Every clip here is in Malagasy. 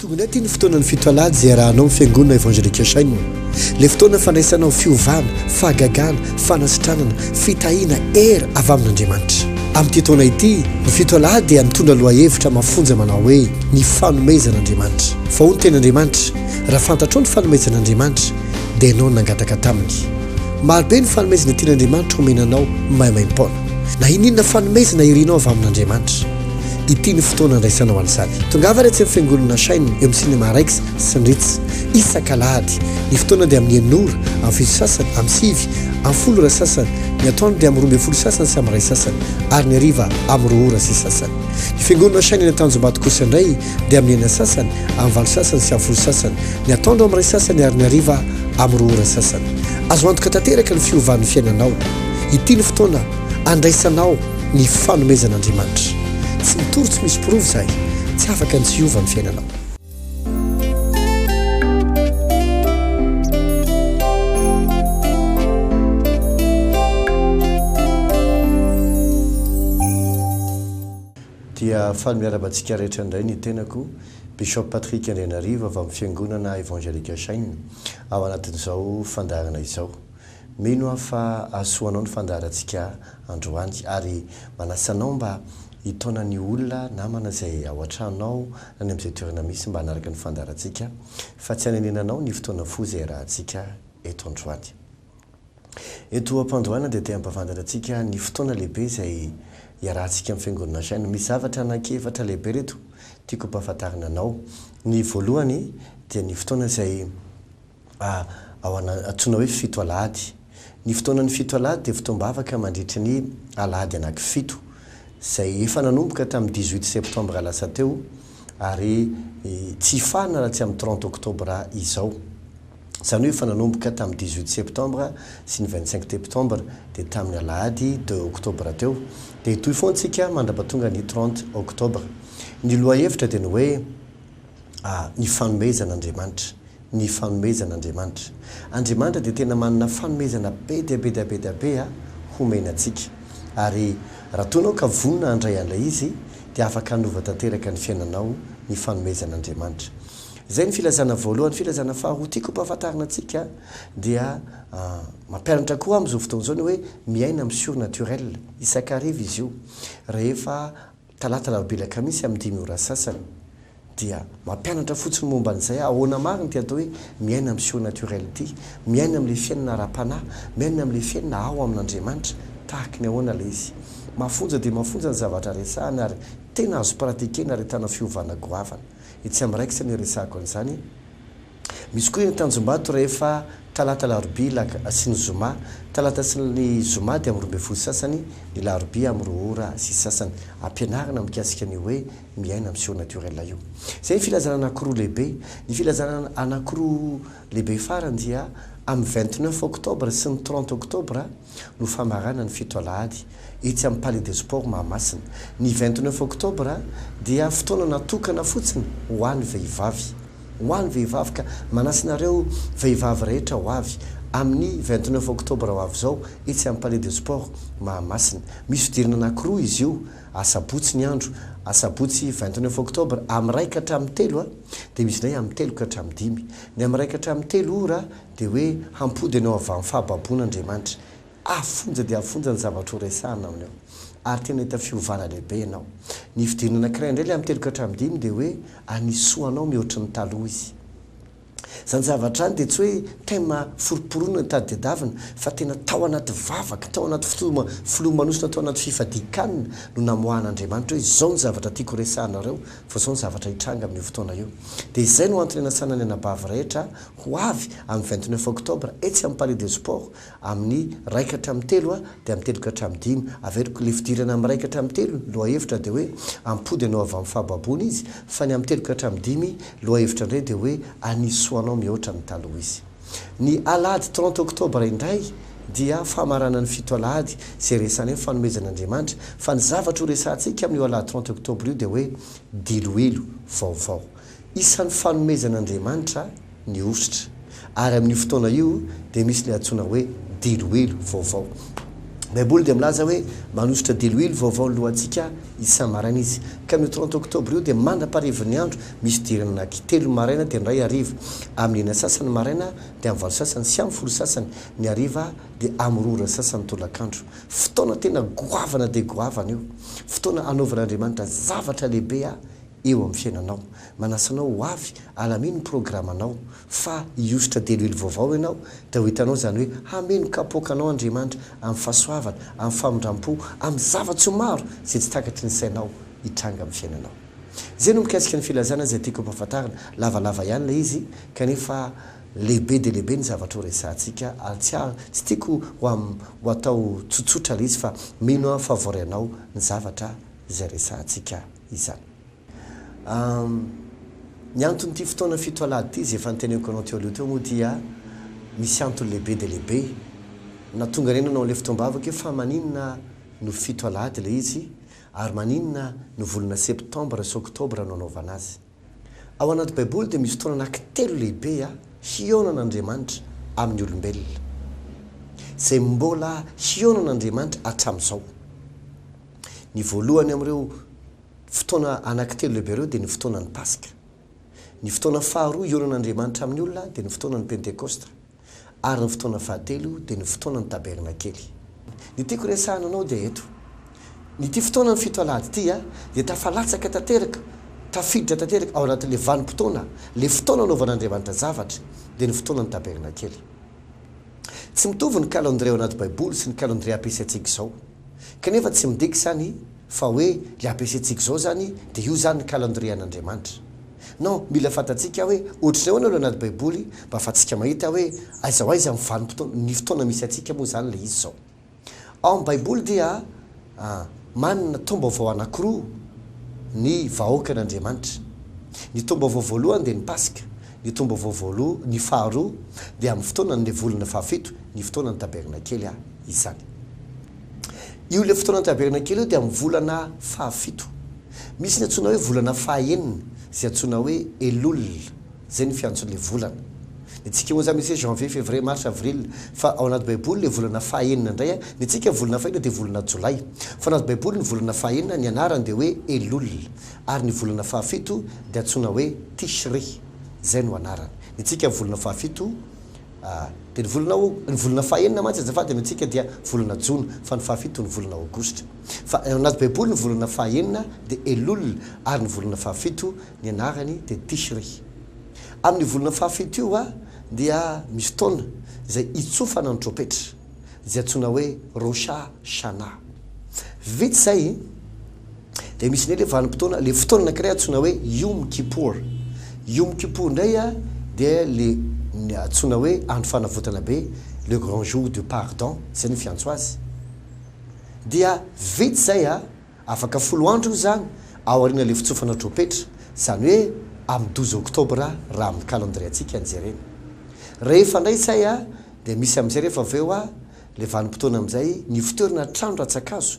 Tonga indray ity ny fotoanan'ny fito alahady izay iarahanao amin'ny Fiangonana Evangelique Shining. Ilay fotoana fandraisanao fiovana, fahagagana, fanasitranana, fitahiana, hery avy amin'Andriamanitra. Amin'ity taona ity, ny fito alahady dia mitondra lohahevitra mafonja manao hoe, Ny fanomezan'Andriamanitra. Fa hoy ny Tenin'Andriamanitra, Raha fantatrao ny fanomezan'Andriamanitra, dia ianao no nangataka taminy. Marobe ny fanomezana tian'Andriamanitra homena anao maimaim-poana. Na inon'inona fanomezana irinao avy amin'Andriamanitra. Ity ny fotoana andraisana ho an'ny sary. Tongava re tsy ny fiangonana Shine eo amin'ny Cinéma Rex sy ny Ritz isaka alahady. Ny fotoana dia amin'ny enina ora amin'ny fito sasany amin'ny sivy amin'ny folo ora sasany, ny atoandro dia amin'ny roa ambin'ny folo sasany sy amin'ny iray sasany ary ny hariva amin'ny roa ora sy sasany. Ny fiangonana Shine eny Antanjombato kosa indray dia amin'ny enina sasany amin'ny valo sasany sy amin'ny folo sasany, ny atoandro amin'ny iray sasany ary ny hariva amin'ny roa ora sasany. Azo antoka tanteraka ny fiovan'ny fiainanao. Ity ny fotoana. Andraisanao ny fanomezan'Andriamanitra. Tsy mitory tsy misy porofo izay. Tsy afaka ny tsy hiova ny fiainanao. Dia faly miarahaba antsika rehetra indray ny tenako, Bishop Patrick Andrianarivo avy amin'ny Fiangonana Evangelical Shine, ao anatin'izao fandaharana izao. Mino aho fa hahasoanao ny fandaharantsika androany ary manasa anao mba hitaona ny olona, namana izay ao an-tranonao na any amin'izay toerana misy mba hanaraka ny fandaharantsika fa tsy hanenenanao ny fotoana fohy izay iarahantsika eto androany. Eto am-pandohana dia te-hampavantatra antsika ny fotoana lehibe izay iarahantsika amin'ny Fiangonana Shine. Misy zavatra anankiefatra lehibe ireto tiako hampahafantarina anao. Ny voalohany dia ny fotoana izay a ao ana antsoina hoe fito alahady. Ny fotoanan'ny fito alahady dia fotoam-bavaka mandritry ny alahady anaky fito, izay efa nanomboka tamin'ny dix huit septembre lasa teo ary tsy hifarana raha tsy amin'ny trente octobre izao. Izany hoe efa nanomboka tamin'ny dix huit septembre sy ny vingt cinq teptembre dia tamin'ny alahady deux octobre teo dia hitohy foana isika mandrapatonga ny trente octobre. Ny lohahevitra dia ny hoe. Ah, ny fanomezan' Andriamanitra, ny fanomezan' Andriamanitra. Andriamanitra dia tena manana fanomezana be dia be dia be dia be homena antsika. Ary raha toa ianao ka vonona handray an'ilay izy, dia afaka hanova tanteraka ny fiainanao ny fanomezan' Andriamanitra. Izay ny filazana voalohany. Ny filazana faharoa tiako hampahafantarina antsika dia mampianatra koa amin'izao fotoana izao ny hoe miaina amin'ny surnaturel. Isak'hariva izy io, rehefa. Talata Alarobia Kamisy amin'ny dimy ora sasany dia mampianatra fotsiny momba an'izay ahoana marina ity atao hoe miaina amin'ny surnaturel ity, miaina amin'ilay fiainana ara-panahy, miaina amin'ilay fiainana ao amin'Andriamanitra, tahaky ny ahoana ilay izy. Mafonja dia mafonja ny zavatra resahana ary tena azo pratikena ary ahitana fiovana goavana. Etsy amin'ny raikitra no iresahako an'izany. Misy koa eny Tanjombato rehefa talata alarobia lak sy ny zoma. Talata sy ny zoma dia amin'ny roa ambin'ny folo sasany, ny larobia amin'ny roa ora sy sasany. Ampianarina mikasika ny hoe miaina amin'ny surnaturel io. Izay ny filazana anakiroa lehibe. Ny filazana anakiroa lehibe farany dia amin'ny vingt neuf octobre sy ny trente octobre. no famarana ny fito alahady etsy amin'ny Palais des Sports Mahamasina. Ny vingt neuf octobre dia fotoana natokana fotsiny ho an'ny vehivavy. Ho an'ny vehivavy ka manasa anareo vehivavy rehetra ho avy amin'ny vingt neuf octobre ho avy izao etsy amin'ny Palais des Sports Mahamasina. Misy fidirana anankiroa izy io, asabotsy ny andro, asabotsy vingt neuf octobre amin'ny iray ka hatramin'ny telo dia misy indray amin'ny telo ka hatramin'ny dimy. Ny amin'ny iray ka hatramin'ny telo ora dia hoe hampody anao avy amin'ny fahababoana Andriamanitra. Avo fonja dia avo fonja ny zavatra horesahina amin'io. Ary tena hahita fiovana lehibe ianao. Ny fidirana anankiray indray ilay amin'ny telo ka hatramin'ny dimy dia hoe hanisoa anao mihoatry ny taloha Izy. Izany zavatra izany dia tsy hoe thème foroporoana ny tadiadavina fa tena tao anaty vavaka, tao anaty filoha, filomanosina, tao anaty fifadian-kanina no namoahan'Andriamanitra hoe izao ny zavatra tiako horesahanareo fa izao ny zavatra hitranga amin'io fotoana io. Dia izay no antony hanasana ny anabavy rehetra Ho avy amin'ny vingt neuf octobre etsy amin'ny Palais des Sports amin'ny iray ka hatramin'ny telo a, dia amin'ny telo ka hatramin'ny dimy. Averiko ilay fidirana amin'ny iray ka hatramin'ny telo, ny lohahevitra dia hoe ampody anao avy amin'ny fahababoana izy, fa ny amin'ny telo ka hatramin'ny dimy, lohahevitra indray dia hoe anisy soa anao mihoatra ny taloha izy. Ny alahady trente octobre indray dia famaranan'ny fito alahady izay resahanay ny fanomezana Andriamanitra, fa ny zavatra horesahantsika amin'io alahady trente octobre io dia hoe diloilo vaovao. Isan'ny fanomezan'Andriamanitra ny hosotra, ary amin'io fotoana io dia misy ny antsoina hoe diloilo vaovao. Ny Baiboly dia milaza hoe manosotra diloilo vaovao ny lohantsika isa-maraina izy. Ka amin'io trente oktobra io dia mandra-parivin'ny andro misy fidirana anaty telo maraina dia indray hariva, amin'ny enina sasany maraina dia amin'ny valo sasany sy amin'ny folo sasany ny hariva dia amin'ny roa ora sasany tolakandro. Fotoana tena goavana dia goavana io. Fotoana hanaovan'Andriamanitra zavatra lehibe eo amin'ny fiainanao. Manasa anao ho avy, alamino ny programanao, fa hihosotra delily vaovao ianao, dia ho hitanao izany hoe hameno kapoaka anao Andriamanitra amin'ny fahasoavana, amin'ny famindram-po, amin'ny zava-tsoa maro izay tsy takatry ny sainao hitranga amin'ny fiainanao. Izay no mikasika ny filazana izay tiako hampahafantarina, lavalava ihany ilay izy kanefa lehibe dia lehibe ny zavatra horesahantsika ary tsy ah, tsy tiako ho am, ho atao tsotsotra ilay izy fa mino aho fa voaray anao ny zavatra izay resahantsika. izany. Ny anton'ity fotoana fito alahady ity, izay efa noteneniko anao teo aloha teo moa dia misy antony lehibe dia lehibe. Na tonga niainana ao amin'ilay fotoam-bavaka io fa maninona no fito alahady ilay izy ary maninona no volana septambra sy oktobra no anaovana azy. Ao anaty Baiboly dia misy fotoana anankitelo lehibe hihaonan'Andriamanitra amin'ny olombelona, izay mbola hihaonan'Andriamanitra hatramin'izao. Ny voalohany amin'ireo fotoana anankitelo lehibe ireo dia ny fotoanan'ny Paska. Ny fotoana faharoa hihaonan'Andriamanitra amin'ny olona dia ny fotoanan'ny Pentekosta. ary ny fotoana fahatelo dia ny fotoanan'ny tabernakely. Ny tiako resahina anao dia eto, ity fotoanan'ny fito alahady ity dia tafalatsaka tanteraka, tafiditra tanteraka ao anatin'ilay vanim-potoana, ilay fotoana anaovan'Andriamanitra zavatra, dia ny fotoanan'ny tabernakely. Tsy mitovy ny kalendrie ao anaty Baiboly sy ny kalendrie ampiasaintsika izao. Kanefa tsy midika izany fa hoe ilay ampiasaintsika izao izany dia io izany ny calendrier an'Andriamanitra. Non, mila fantatsika hoe ohatrin'ny ahoana ilay anaty baiboly mba afatsika mahita hoe aiza ho aiza ny vanim-potoana, ny fotoana misy antsika moa izany ilay izy izao. Ao amin'ny baiboly dia manana taom-baovao anankiroa ny vahoakan'Andriamanitra. Ny taom-baovao voalohany dia ny Paska. ny tombo-vao voaloha, ny faharoa, dia amin'ny fotoanan'ilay volana fahafito, ny fotoanan'ny tabernakely a, izany. Io ilay fotoanan'ny tabernakely io dia amin'ny volana fahafito. Misy ny antsoina hoe volana fahaenina, izay antsoina hoe Elul, izay ny fiantson'ilay volana. Ny antsika moa izany misy hoe janvier, février, mars, avril, fa ao anaty Baiboly ilay volana fahaenina indray a, ny antsika volana fahina dia volana jolay, fa ao anaty Baiboly ny volana fahaenina, ny anarany dia hoe Elul. Ary ny volana fahafito dia antsoina hoe Tishri, izay no anarany. Ny antsika amin'ny volana fahafito dia ny volana Ao-, ny volana fahenina mantsy azafady ny antsika dia volana Jona, fa ny fahafito ny volana Aogositra. Fa ao anaty Baiboly ny volana fahenina dia Elul ary ny volana fahafito ny anarany dia Tishri. Amin'io volana fahafito io dia misy taona izay hitsofana ny trompetra, izay antsoina hoe Rosh Hashanah. Vita izay. Dia misy indray ilay vanim-potoana, ilay fotoana anankiray antsoina hoe Yom Kippur. Yom Kippur indray dia ilay antsoina hoe andro fanavotana be, le grand jour du pardon, izay no fiantso azy. Dia vita izay, afaka folo andro io izany, ao aorian'ilay fitsofana tropetra, izany hoe amin'ny douze octobre raha amin'ny calendrier-ntsika no jerena. Rehefa indray izay dia misy amin'izay rehefa avy eo ilay vanim-potoana amin'izay nifoterana hatrany rantsan-kazo.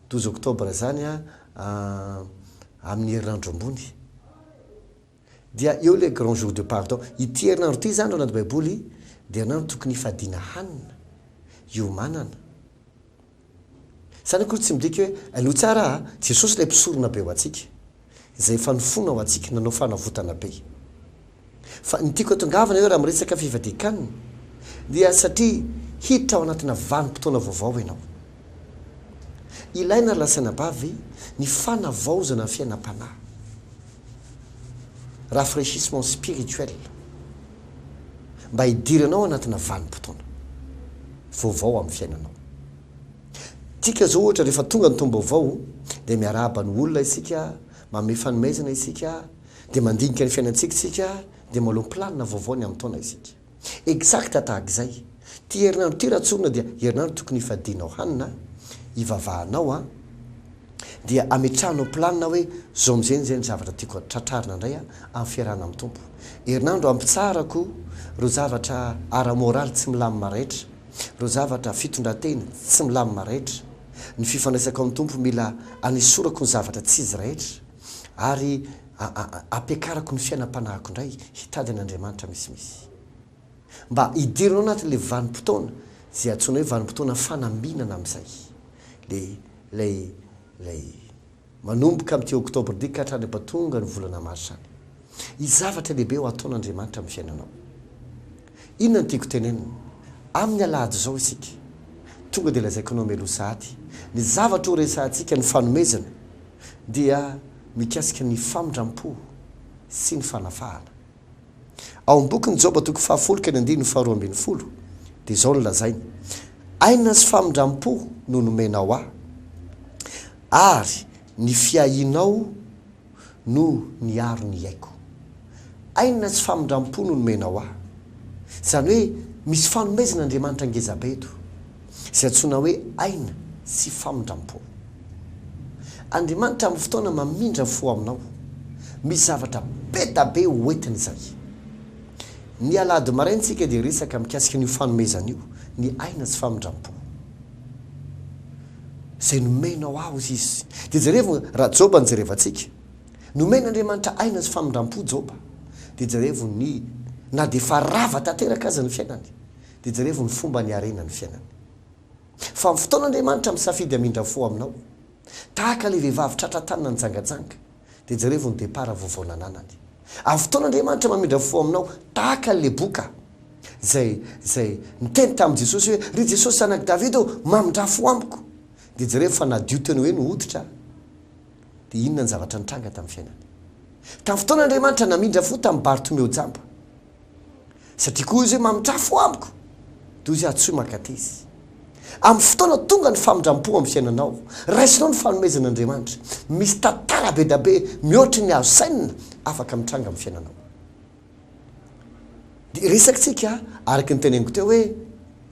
Douze octobre zany a amin'ny herinandro ambony dia eo ilay grand jour de pardon. Ity herinandro ity izany raha Baiboly dia herinandro tokony hifadiana hanina, hiomanana. Izany akory tsy midika hoe, hainao tsara a, Jesosy ilay mpisorona be ho antsika. izay efa nifona ho antsika nanao fanavotana be. Fa ny tiako atongavana eo raha miresaka fivadikan dia satria hiditra ao anatina vanim-potoana vaovao ianao. Ilaina ry lasanabavy ny fanavaozana ny fiainam-panahy. Rafraîchissement spirituel. Mba hidiranao anatina vanim-potoana vaovao amin'ny fiainanao. Tsika zao ohatra rehefa tonga ny taom-baovao dia miarahaba ny olona isika, manome fanomezana isika, dia mandinika ny fiainantsika isika, dia manao ny planina vaovao ny amin'ny taona isika. Exact tahaka izay, ty herinandro ty Ratsorona dia herinandro tokony hifadianao hanina, hivavahanao an! dia ametrahanao planina hoe zao amin'izay izay ny zavatra tiako tratrarina indray an! amin'ny fiarahana amin'ny Tompo. Herinandro hampitsarako ireo zavatra ara-moraly tsy milamina rehetra. ireo zavatra, fitondran-tena, tsy milamina rehetra. Ny fifandraisako amin'ny Tompo mila anesorako ny zavatra tsy izy rehetra, ary ampiakarako ny fiainam-panahiko indray hitady an' Andriamanitra misimisy. Mba hidirina ao anatin'ilay vanim-potoana izay antsoina hoe vanim-potoana fanambinana amin'izay, ilay, ilay, ilay Manomboka amin'ity Oktobra ity ka hatrany ampatonga ny volana Marsa any. Hisy zavatra lehibe ho ataon'Andriamanitra amin'ny fiainanao. Inona no tiako tenenina? Amin'ny alahady izao isika. Tonga dia lazaiko anao mialoha sahady ny zavatra ho resahantsika, ny fanomezana dia mikasika ny famindram-po sy ny fanafahana. Ao amin'ny bokin'i Joba toko fahafolo ka ny andininy faharoa ambin'ny folo dia izao no lazainy, Aina sy famindram-po no nomenao ahy, ary ny fiahianao no niaro ny aiko. Aina sy famindram-po no nomenao ahy. Izany hoe misy fanomezana Andriamanitra ngezabe eto. Izay antsoina hoe aina sy famindram-po. Andriamanitra amin'ny fotoana mamindra fo aminao. Misy zavatra be da be ho entiny izay. Ny alahady maraina isika dia resaka mikasika an'io fanomezana io, ny aina sy famindram-po. Izay nomenao aho, hoy izy. Dia jerevo raha Joba no jerevantsika. Nomen'Andriamanitra aina sy famindram-po Joba. Dia jerevo ny na dia efa rava tanteraka aza ny fiainany. Dia jerevo ny fomba niarena ny fiainany. Fa amin'ny fotoana Andriamanitra misafidy hamindra fo aminao, tahaka ilay vehivavy tratra an-tanana nijangajanga, dia jerevo ny depart vaovao nananany. Amin'ny fotoana Andriamanitra mamindra fo aminao, tahaka an'i Leboka, izay, izay niteny tamin'i Jesosy hoe, Ry Jesosy zanak'i Davida ô, mamindrà fo amiko! Dia jerevo fa nadio teny hoe ny hoditra. Dia inona ny zavatra nitranga tamin'ny fiainany? Tamin'ny fotoana Andriamanitra namindra fo tamin'i Bartomeo jamba. Satria koa izy hoe mamintrafy ho amiko, toy izay antsoy mankateza. Amin'ny fotoana tonga ny famindram-po amin'ny fiainanao, raisinao ny fanomezan'Andriamanitra. Misy tantara be dia be mihoatry ny azo sainina afaka mitranga amin'ny fiainanao. Dia resakintsika araka ny teneniko teo hoe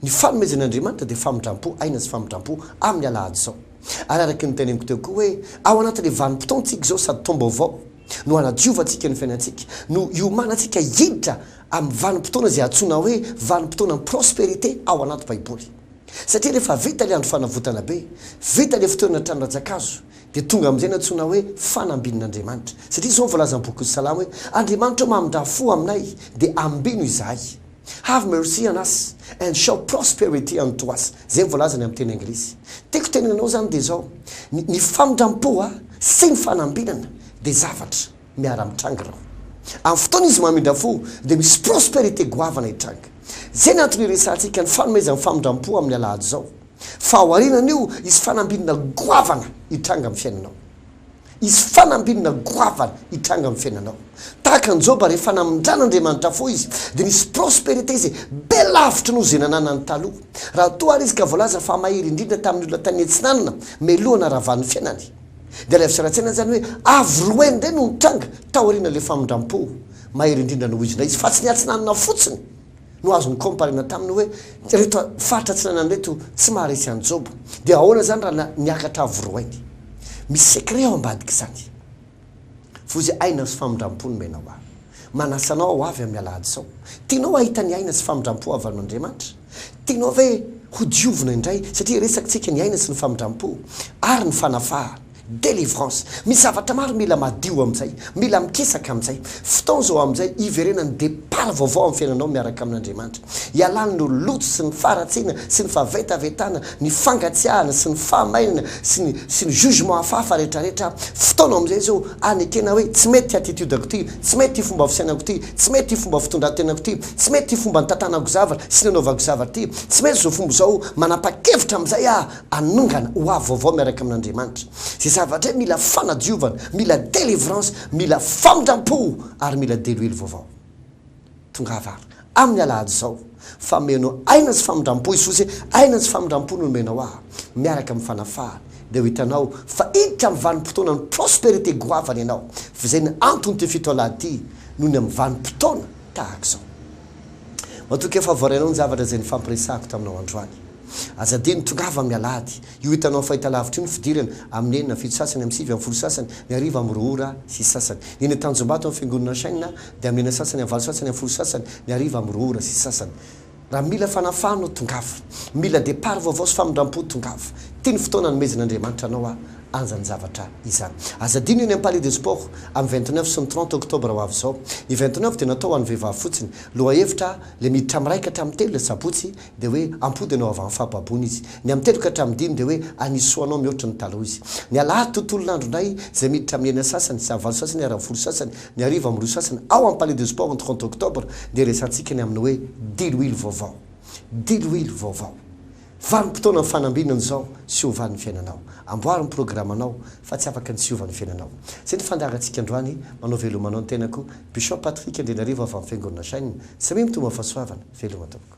ny fanomezan'Andriamanitra dia famindram-po aina sy famindram-po amin'ny alahady izao. Ary araka ny teneniko teo koa hoe ao anatin'ilay vanim-potoantsika izao sady taom-baovao, No hanadiovantsika ny fiainantsika, no hiomanantsika hiditra amin'ny vanim-potoana izay antsoina hoe vanim-potoanan'ny prosperite ao anaty Baiboly. Satria rehefa vita ilay andro fanavotana be, vita ilay fotoana trano rantsankazo, dia tonga amin'izay ny antsoina hoe fanambin'Andriamanitra. Satria izao no voalazan'ny bokin'ny Salamo hoe, Andriamanitra ô mamindrà fo aminay, dia ambino izahay. Have mercy on us and show prosperity unto us, zay ny voalazany amin'ny teny anglisy. Tiako tenena anao zany dia zao, ny ny famindram-po a, sy ny fanambinana dia zavatra miara-mitranga ireo. Amin'ny fotoana izy mamindra fo dia misy prosperité goavana hitranga. Zay ny antony iresahantsika ny fanomezan'ny famindram-po amin'ny alahady zao. Fa aorianan'io hisy fanambinana goavana hitranga amin'ny fiainanao. Hisy fanambinina goavana hitranga amin'ny fiainanao. Tahaka an'i Joba, rehefa namindran'Andriamanitra fo izy, dia nisy prosperite izay be lavitra noho izay nananany taloha. Raha toa àry izy ka voalaza fa mahery indrindra tamin'ny olona tany Atsinanana mialoha hanaravan'ny fiainany, dia alaivo sary an-tsaina izany hoe avo roe indray no nitranga taorian'ilay famindram-po mahery indrindra nohizina izy, fa tsy ny Atsinanana fotsiny. no azo mi-comparer-na taminy hoe ireto faritra atsinanana ireto tsy maharesy an'i Joba. Dia ahoana izany raha niakatra avo roainy? Misy secret ao ambadik'izany. Vozy aina sy famindram-po no menao ahy. Manasa anao aho avy amin'ny alahady izao. Tianao hahita ny aina sy famindram-po avy amin'Andriamanitra? Tianao ve ho diovina indray satria resakintsika ny aina sy ny famindram-po ary ny fanafahana? Delivrance. Misy zavatra maro mila madio amin'izay, mila mikisaka amin'izay. Fotoana izao amin'izay hiverenan'ny départ vaovao amin'ny fiainanao miaraka amin'Andriamanitra. Hialan'ny loto sy ny faharatsiana sy ny fahavetavetana, ny fangatsiahana sy ny fahamainana sy ny sy ny jugement hafahafa rehetrarehetra. Fotoana amin'izay izao hanekena hoe tsy mety ity attitude-ko ity, tsy mety ity fomba fisainako ity, tsy mety ity fomba fitondran-tenako ity, tsy mety ity fomba nitantanako zavatra sy nanaovako zavatra ity, tsy mety izao fomba izao, manapa-kevitra amin'izay aho. hanongana ho avy vaovao miaraka amin'Andriamanitra. Izay zavatra izay mila fanadiovana, mila délivrance, mila famindram-po ary mila deloilo vaovao. Tongava ary, amin'ny alahady izao, fa meno aina sy famindram-po Jesosy e, aina sy famindram-po no nomenao ahy, miaraka amin'ny fanafahana, dia ho hitanao fa hiditra amin'ny vanim-potoanan'ny prospérité goavana ianao, fa izay no anton'ity fito alahady ity, noho ny amin'ny vanim-potoana tahaka izao. Matokia fa voarainao ny zavatra izay nifampiresahako taminao androany. Aza adino, tongava amin'ny alahady. Io hitanao fahitalavitra io no fidirana, amin'ny enina amin'ny fito sasany, amin'ny sivy amin'ny folo sasany, ny hariva amin'ny roa ora sy sasany. Ny eny Antanjombato amin'ny Fiangonana Shina dia amin'ny enina sasany, amin'ny valo sasany, amin'ny folo sasany, ny hariva amin'ny roa ora sy sasany. Raha mila fanafahana aho, tongava. Mila départ vaovao sy famindram-po, tongava. Ity ny fotoana hanomezan'Andriamanitra anao anjan'ny zavatra izany. Aza adino eny amin'ny Palais des Sports, amin'ny vingt neuf sy ny trente octobre ho avy izao. Ny vingt neuf dia natao ho an'ny vehivavy fotsiny. Lohahevitra, Ilay miditra amin'ny iraika hatramin'ny telo ilay sabotsy, dia hoe ampody anao avy amin'ny fahababoana izy. Ny amin'ny telo ka hatramin'ny dimy dia hoe hanisy soa anao mihoatra ny taloha izy. Ny alahady tontolon'andro indray izay miditra amin'ny enina sasany sy valo sasany ary amin'ny folo sasany ny hariva amin'ny roa sasany ao amin'ny Palais de Sport ny trente octobre dia resahantsika ny amin'ny hoe diloilo vaovao. Diloilo vaovao. Vanim-potoana fanambinina ny izao sy ho vanin'ny fiainanao. Amboary ny programanao fa tsy afaka ny tsy hiova ny fiainanao. Izay ny fandaharantsika androany. Manao veloma anao ny tenako. Bishop Patrick Andrianarivo avy amin'ny Fiangonana Shine. Samia mitombo amin'ny fahasoavana. Veloma tompoko.